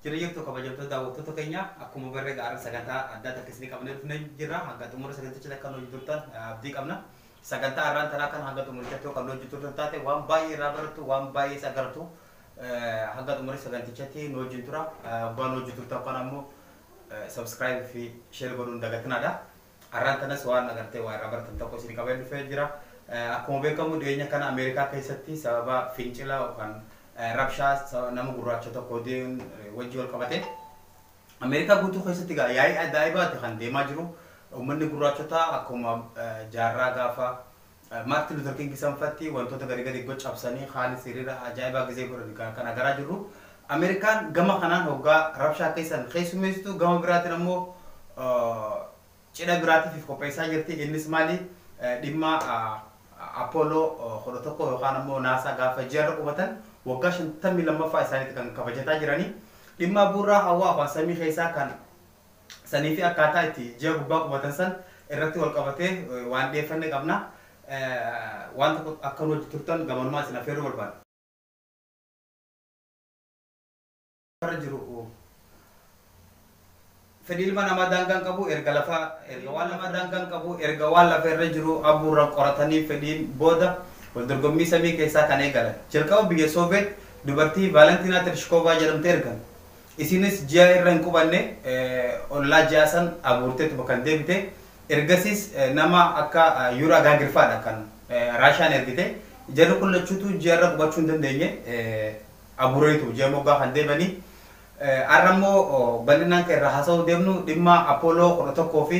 Jirra jirtu kabajamtoota daawwattoota keenya akkuma barree gaara sagantaa addaa takka isinii qabnee dhufnee jirra hanga xumura saganticha takka hojii turtan abdii qabna sagantaa irraan taraa kan hanga xumurichatti kan hojii turtan taate waan baay'ee irraa barattu waan baay'ee isa gartu hanga xumura sagantichatti nu wajjin tura waan hojii turtan kan ammoo subscribe fi share godhuun dagatinaadha Arraan tanas waan agartee waa irraa baratan tokko isinii qabeen dhufee jira. Akkuma beekamu dhiyeenya kana Ameerikaa keessatti sababa fincila yookaan rabshaa nama gurraacha tokko du'een wajji wal qabatee Ameerikaa guutuu keessatti egaa yaa'ii ajaa'ibaati kan deemaa jiru. Uummanni gurraachotaa akkuma jaarraa gaafa Martin Luther King sanfatti wantoota gari gari go cabsanii kaanis hiriira ajaa'ibaa gizee godhan ka- kan agaraa jirru. Ameerikaan gama kanaan hoggaa rabshaa keessan keessummeessitu gama biraatiin ammoo ah, cidha biraatiif if qopheessaa jirti. Innis maali? Eh, Dhimma ah, Apollo ah, 11 yookaan ammoo naasaa gaafa ji'arra qubatan waggaa 52ffaa isaaniitti kan kabajataa jiranii. Dhimma buurraa hawaa afaan samii keessaa kan sanii fi akkaataa itti ji'a gubbaa qubatan san irratti wal qabatee waan dhiyeeffanne qabna. Waan tokko akka nu wajji turtan gamanumaa isin afeeruu barbaanna. irra jiru fedhii ilma namaa daangaa hin qabu erga lafa erga waan lafa daangaa hin qabu erga waan lafa irra jiru abuurra qoratanii fedhiin booda wal dorgommii samii keessaa kan eegalan jalqaba biyya sooveet dubartii vaalantiinaa tershikoovaa jedhamte ergan Isiinis ji'a irra hin qubanne, ollaa ji'aa san aguurteetuma kan deebite. Ergasiis nama akka Yuri Agaagir fa'adha kan Raashiyaan ergite. Jarri kun lachuutuu ji'a irra qubachuu hin dandeenye. Aguuraniitu ji'a moggaa kan deebani. Har'a immoo bal'inaan kan irraa haasa'uu deemnu dhimma Apollo 11 fi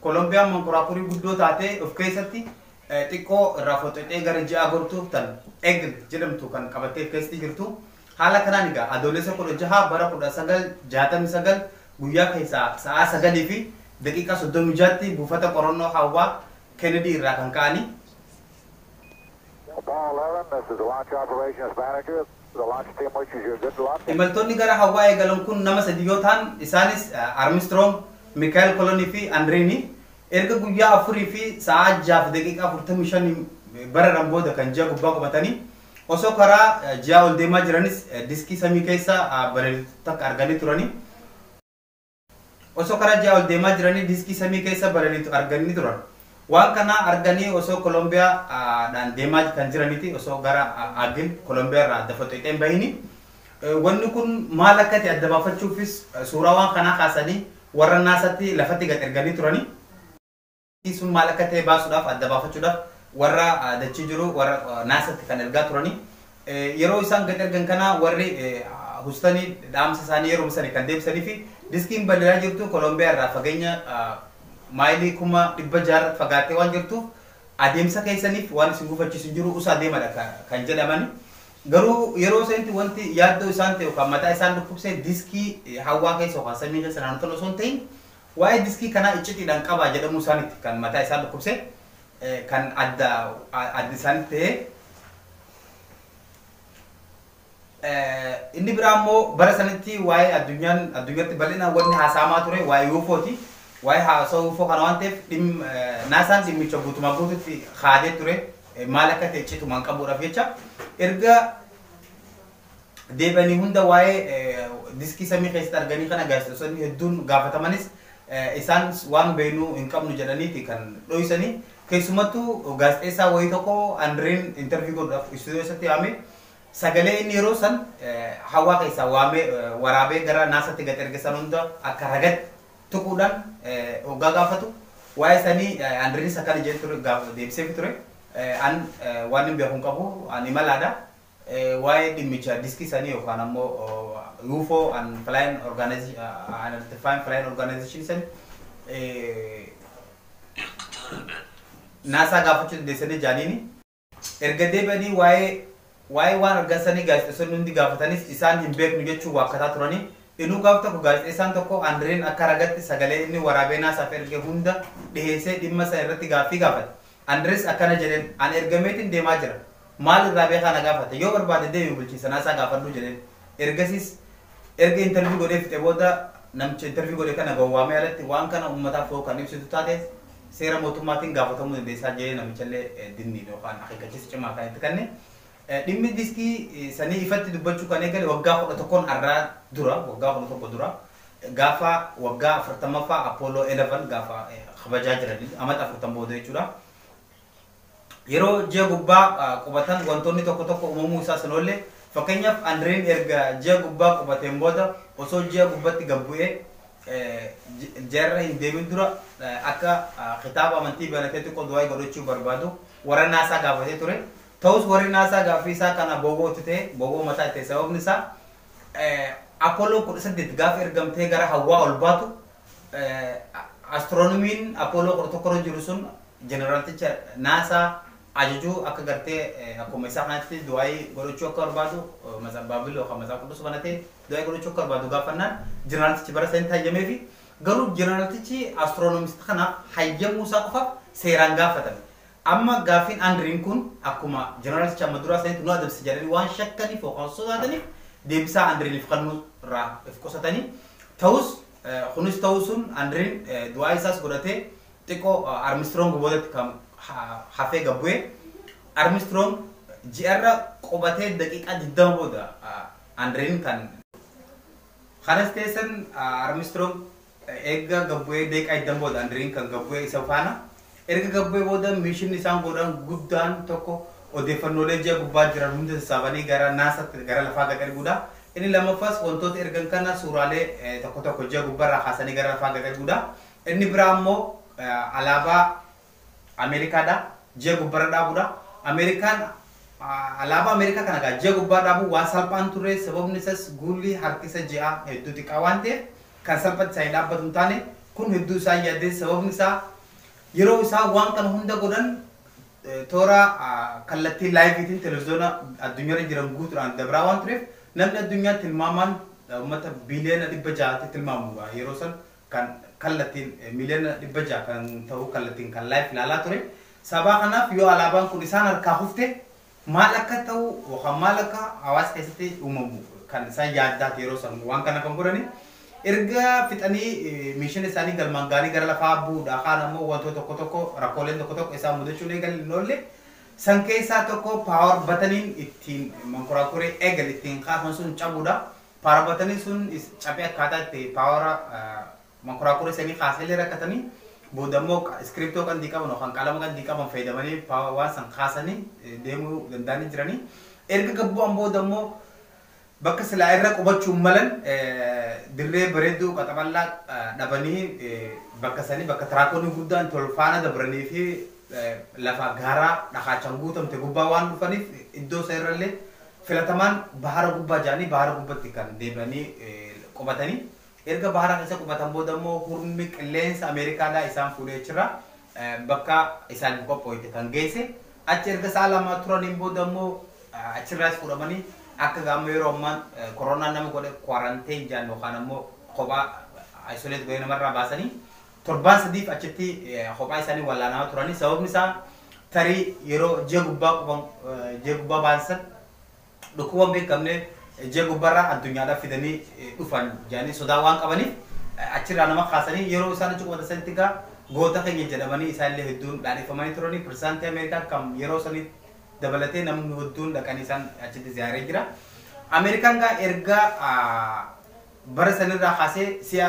Kolombiyaan mankoraakurii guddoo taate of keessatti xiqqoo irraa foxxoxee gara ji'aa gortuuf tan Eagle jedhamtu kan qabattee of keessatti jirtu. Haala kanaan egaa Adoolessa 16 bara 1969 guyyaa keessaa sa'aa 9:36tti buufata qorannoo hawwaa Kennedy irraa kan ka'anii, Imaltoonni gara Hawaayi galan kun nama sadii yoo tahan isaanis Armistiroong, Mikaa'el Kolonii fi Andiriini. Erga guyyaa 4 fi sa'aa 6:45 bararan booda kan ji'a gubbaa qubatani. Osoo karaa ji'aa ol deemaa jiranis diskii samii keessa balaliitu takka arganii turani. Osoo karaa ji'aa ol deemaa jiranii diskii samii keessa balaliitu arganii turan. Waan kana arganii osoo Kolombiyaa dhaan deemaa kan jiraniti osoo gara Agil Kolombiyaa irraa adda foxxeexee hin bahini. Wanni kun maal akka ta'e adda baafachuufis suuraa waan kanaa kaasanii warra naasatti lafatti gad erganii turani. Dachii sun maal akka ta'e baasuudhaaf, adda baafachuudhaaf warra dachii jiru warra NASAtti kan ergaa turani. Yeroo isaan gad ergan kana warri Hustani dhaamsa isaanii yeruma sani kan deebisaniifi diskiin balali'aa jirtu Kolombiyaa irraa fageenya maayilii kuma dhibba jaha irratti fagaattee waan jirtuuf adeemsa keessaniif waan isin gufachiisu hin jiru usaa deemadha ka- kan jedhamani. Garuu yeroo sanitti wanti yaaddoo isaan ta'e yookaan mataa isaan dhukkubse diskii hawaa keessa yookaan samii keessa naannoo sana osoo hin ta'in Waa'ee diskii kanaa iccitiidhaan qabaa jedhamuu isaaniiti kan mataa isaan dhukkubse, kan adda adda isaanitti ta'ee. Inni biraa immoo bara sanitti waa'ee addunyaan addunyatti bal'inaan wanni haasa'amaa ture waa'ee UFOti. Waa'ee haasa'uu UFO kana waan ta'eef dhim naasaan dhimmicha guutumaa guututti kaadee ture maal akka ta'e citumaan qabuudhaaf jecha erga deebi'anii hunda waa'ee diskii samii keessatti arganii kana gaazexeessonni hedduun gaafatamanis isaan waan beeknu hin qabnu jedhaniiti kan dhoysanii keessumattuu gaazexeessaa wayii tokko Andreen intervii godhuudhaaf istuudiyoo isatti waamee sagalee inni yeroo san hawaa keessaa waamee waraabee gara naasatti gad erge san hunda akka ragatti tuquudhaan hoggaa gaafatu waa'ee sanii Andreenis akkana jedhee ture deebiseefi ture an waan hin beeku hin qabu an imalaadha Waa'ee dhimmichaa diskisanii yookaan ammoo UFO and Flying Organization and Identifying Flying Organization san naasaa gaafachuu dandeessanii jaaniini. Erga deebi'anii waa'ee waa'ee waan argan sanii gaazexeessonni hundi gaafatanis isaan hin beeknu jechuun waakkataa turanii. Inuu gaaf tokko gaazexeessaan tokko Andreen akka ragatti sagalee inni waraabee naasaaf erge hunda dhiheessee dhimma san irratti gaaffii gaafate. Andres akkana jedheen, Ani ergameetiin deemaa jira. Maal irraa beekaa na gaafata? Yoo barbaade deemi bulchiinsa Naasaa gaafadhu jedheen. Ergasiis erga interview godhee fixee booda namicha interview godhe kana gowwaamee alatti waan kana uummataaf hoo kan ibsitu taate seera mootummaatiin gaafatamuu dandeessaa jedhee namichallee dinniin yookaan akeekkachiisa cimaa kan itti kanne. Dhimmi diskii sanii ifatti dubbachuu kan eegale waggaa 11n arraa dura, waggaa 11 dura, gaafa waggaa 40ffaa Apollo 11 gaafa kabajaa jirani, amata afurtan booda jechuudha. Yeroo ji'a gubbaa qubatan wantoonni tokko tokko uumamuu isaas hin oolle. Fakkeenyaaf Andreen erga ji'a gubbaa qubateen booda osoo ji'a gubbatti gad bu'ee ji'arra hin deemin dura akka kitaaba amantii banatee xiqqoo du'aa'ii godhachuu barbaadu warra Naasaa gaafatee ture. Ta'us warri Naasaa gaaffii isaa kana boboo itti ta'e, boboo mataa itti ta'e sababni isaa Apollo 18 gaafa ergamtee gara hawwaa ol baatu Astronomiin Apollo 11 irra jiru sun jeneraalticha Naasaa ajajuu akka gartee akkuma isaa kanatti du'aayii godhachuu akka barbaadu Matsa- Baabil yookaan Matsaa Qudus banatee du'aayii godhachuu akka barbaadu gaafannaan jeneraaltichi bara sanitti hayyameefi garuu jeneraaltichi astronomist kanaaf hayyamuu isaa qofaaf seeraan gaafatame. Amma gaaffiin Andriin kun akkuma journalist amma duraa sanitti nu adabsa jedhanii waan shakkaniif yookaan sodaataniif deebisaa Andriiniif kennuu irraa if qusatanii ta'us kunis ta'uu sun Andriin du'aa isaas godhatee xiqqoo Armstrong boodatti kan hafee gad bu'ee Armstrong ji'arra qubatee daqiiqaa 20 booda Andriin kan Kanas teessan Armstrong Eegga gad bu'ee daqiiqaa 20 booda Andiriin kan gad bu'e isa faana. Erga gad bu'ee booda miishinni isaan goodhan guddaan tokko odeeffannoolee ji'a gubbaa jiran hunda sassaabanii gara Naasaatti gara lafaa gad erguudha. Inni lammaffaas wantoota ergan kana suuraalee tokko tokko ji'a gubbarraa kaasanii gara lafaa gad erguudha. Inni biraa immoo alaabaa Ameerikaadha. Ji'a gubbarra dhaabuudha. Ameerikaan alaabaa Ameerikaa kana egaa ji'a gubbaa dhaabuu waan salphaan turre sababni isas guulli harkisa ji'aa hedduu xiqqaa waan ta'eef kan salphatti isaanii dhaabbatu hin taane kun hedduu isaan yaaddee sababni isaa yeroo isaan waan kana hunda godhan toora kallattii laayiviitiin televiziyoona addunyaarra jiran guutuudhaan dabraa waan tureef namni addunyaa tilmaamaan uummata biiliyoona dhibba ja'aatti tilmaamuudha yeroo san kan kallattiin miliyoona 600 kan ta'u kallattiin kan live ilaalaa ture. Sabaa kanaaf yoo alaabaan kun isaan harkaa kufte maal akka ta'u yookaan maal akka hawaasa keessatti uumamu kan isaan yaaddaati yeroo san waan kana kan godhani. Erga fixanii miishina isaanii galmaan gaarii gara lafaa bu'uudha. Kaan ammoo wantoota tokko tokko rakkooleen tokko tokko isaan mudachuun eegalee hin oolle. San keessaa tokko paawar bataniin ittiin mankuraakuree eegal ittiin kaasan sun cabuudha. Paarabootanii sun caphee akkaataa itti paawara mankuraakurii sanii kaasanillee rakkatanii booda immoo iskiriiptoo qandii qaban yookaan qalama qandii qaban fayyadamanii waan san kaasanii deemuu danda'anii jiranii. Erga gad bu'an booda immoo bakka silaa irra qubachuun malan dirree bareedduu qaxaballaa dhabanii bakka sanii bakka tiraakoonni guddaan tol faana dabranii fi lafa gaaraa dhakaachaan guutamte gubbaa waan dhufaniif iddoo isa irrallee Filatamaan bahara gubbaa ja'anii bahara gubbatti kan deebi'anii qubatanii erga bahara keessa qubatan booda immoo hurmi qilleensa Ameerikaadhaa isaan fuudhee achirra bakka isaaniif qophooyte kan geesse achi erga sa'a lamaa turaniin booda immoo achirraas fuudhamanii akka gaamma yeroo ammaan koronaan nama godhe quarantine jaan yookaan ammoo kophaa isolate godhee namarraa baasanii Torbaan sadiif achitti kophaa isaanii wallaanamaa turani. Sababni isaa tarii yeroo ji'a gubbaa quban ji'a gubbaa baansan dhukkuba hin beekamne ji'a gubbarraa addunyaadhaaf fidanii dhufan jedhanii sodaa waan qabaniif achirraa nama kaasanii yeroo isaan achi qubatan sanitti egaa goota keenya jedhamanii isaanillee hedduun dhaadheffamanii turanii pirezidaantii Ameerikaa kan yeroo sanii dabalatee namni hedduun dhaqanii isaan achitti ziyaaree jira. Ameerikaan egaa erga bara sanirraa kaasee si'a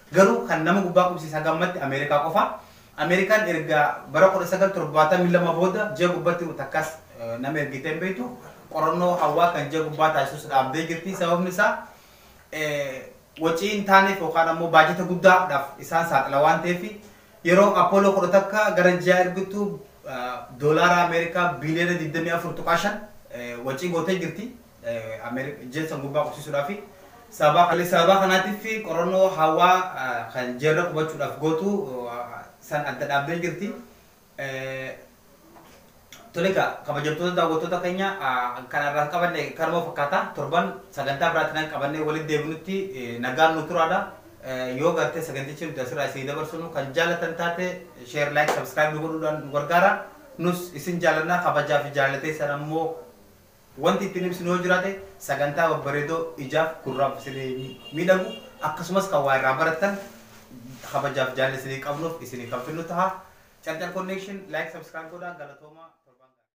Garuu kan nama gubbaa qubsiise haga ammatti Ameerikaa qofa. Ameerikaan erga bara 1972 booda ji'a gubbatti takkas nama ergitee hin beektu. Qorannoo hawaa kan ji'a gubbaa taasisus dhaabdee jirti. Sababni isaa wacii hin taaneef yookaan ammoo baajata guddaa dhaaf isaan saaxila waan ta'eef. Yeroo Apollo 11 gara ji'aa ergitu Doolaara Ameerikaa biiliyoona 24.5 wacii gootee jirti. Ameerikaa gurbaa qubsiisuudhaafi. Sababa kanaatiif qorannoo hawaa kan jeerra qubachuudhaaf gootu san adda dhaabdee jirti. Tole egaa kabajamtoota daawwattoota keenya kan har'aaf qabanne kanuma fakkaata. Torban sagantaa biraatiin qabannee walitti deebinutti nagaan nuu turaadha. Yoo gartee sagantichi nuti asirraa isinii dabarsinu kan jaalatan taate share, like, subscribe nu godhuudhaan nu gargaara. Nus isin jaalanna kabajaa fi jaalala teessan ammoo Wanti ittiin ibsinu yoo jiraate sagantaa babbareedoo ijaaf gurraaf isinii miidhagu akkasumas kan waa irraa barattan kabajaaf jaalala isinii qabnuuf isinii kan fidnu taha. Carcar Connection like subscribe godhaa galatoomaa torbaan gaarii.